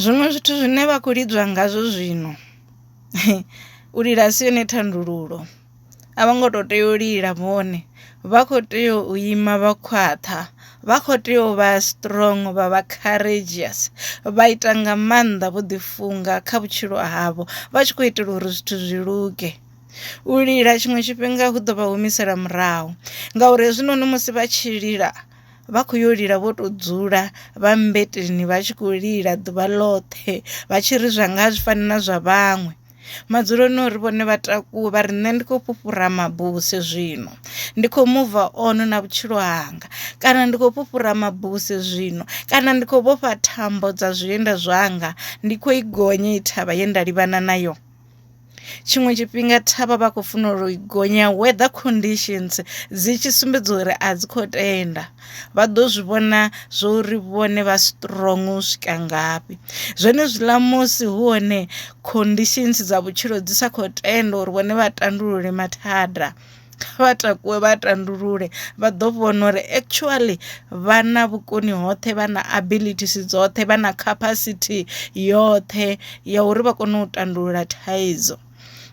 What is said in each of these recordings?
Zwiṅwe zwithu zwine vha kho lidzwa ngazwo zwino u lila a si yone thandululo a vho ngo to tea u lila vhone vha kho tea u ima vha khwaṱha vha kho tea u vha strong vha vha courageous vha ita nga maanḓa vho ḓi funga kha vhutshilo havho vha tshi khou itela uri zwithu zwi luge. U lila tshiṅwe tshifhinga hu ḓo vha humisela murahu ngauri hezwinoni musi vha tshi lila. vha khou yo lila vho to dzula vha mmbeteni vha tshi khou lila ḓuvha ḽoṱhe vha tshi ri zwa nga zwi fani na zwa vhaṅwe madzuloni uri vhone vha takuwe vha ri nṋe ndi khou fhufhura mabuse zwino ndi khou muva ono na vhutshilo hanga kana ndi khou fhufhura mabuse zwino kana ndi khou vhofha thambo dza zwienda zwanga ndi khou i gonya i thavha ye nda livhana nayo Tshiṅwe tshifhinga thavha vha khou funa uri i gonya weather conditions dzi tshi sumbedza uri a dzi kho tenda vha ḓo zwi vhona zwo uri vhone vha strong u swika ngafhi. Zwenezwiḽa musi hu hone conditions dza vhutshilo dzi sa kho tenda uri vhone vha tandulule mathada. kha vha takuwe vha tandulule vha ḓo vhona uri actually vha na vhukoni hoṱhe vha na abilities dzoṱhe vha na capacity yoṱhe ya uri vha kone u tandulula thaidzo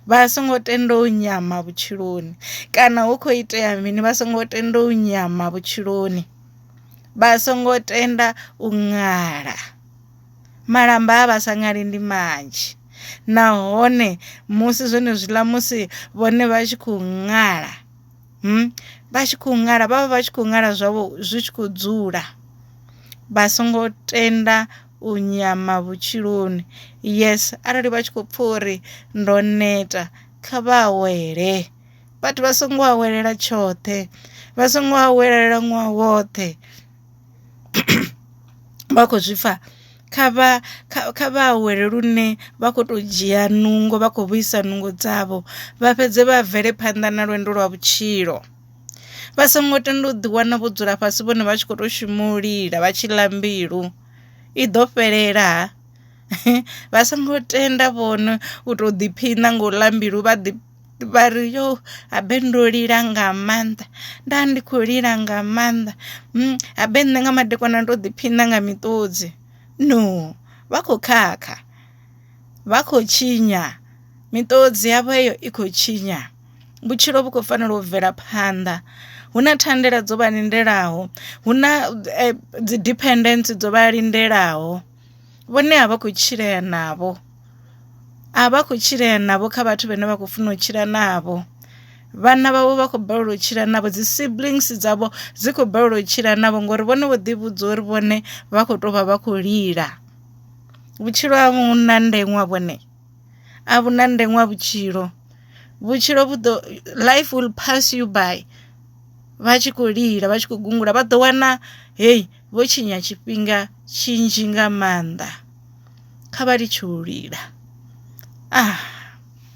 vha songo tenda u nyama vhutshiloni kana hu kho itea mini vha songo tenda u nyama vhutshiloni vha songo tenda u ṅala. Malamba a vha sa ṅali ndi manzhi nahone musi zwone zwiḽa musi vhone vha tshi khou ṅala vha tshi khou ṅala vhavha vhatshi kho ṅwala zwavho zwi tshi kho dzula vha songo tenda u nyama vhutshiloni yes arali vha tshi kho pfha uri ndo neta kha vha awele vhathu vha songo awela tshoṱhe vha songo awela ṅwaha woṱhe. vha khou zwi pfha kha vha kha vha awele lune vha kho to dzhia nungo vha khou vhuisa nungo dzavho vha fhedze vha bvele phanḓa na lwendo lwa vhutshilo vha songo tenda u ḓi wana vho dzula fhasi vhone vha tshi kho to shuma u lila vha tshi ḽa mbilu i ḓo fhelela vha songo tenda vhone u to ḓiphina nga u ḽa mbilu vha ḓi. vha ri yo habe ndo lila nga maanḓa nda ndi kho lila nga maanḓa mm, habe nṋe nga madekwana ndo ḓiphina nga miṱodzi no vha khou khakha vha khou tshinya miṱodzi yavho heyo i khou tshinya vhutshilo vhu khou fanela u bvela phanḓa hu na thandela dzo vha lindelaho hu na eh, dzi dependence dzo vha lindelaho vhone a vha khou tshilea navho a vha khou tshilea navho kha vhathu vhane vha khou funa u tshila navho vhana vhavho vha khou balelwa u tshila navho dzi siblings dzavho dzi khou balelwa u tshila navho ngori vhone vho ḓivhudza uri vhone vha khou tou vha vha khou lila vhutshilo ha vhu na ndeṅwa vhone a vhu na ndeṅwa vhutshilo vhutshilo vhu ḓo life will pass you by vha tshi khou lila vha tshi khou gungula vha ḓo wana heyi. vho tshinya tshifhinga tshinzhi nga maanḓa kha vha litshe u lila ah.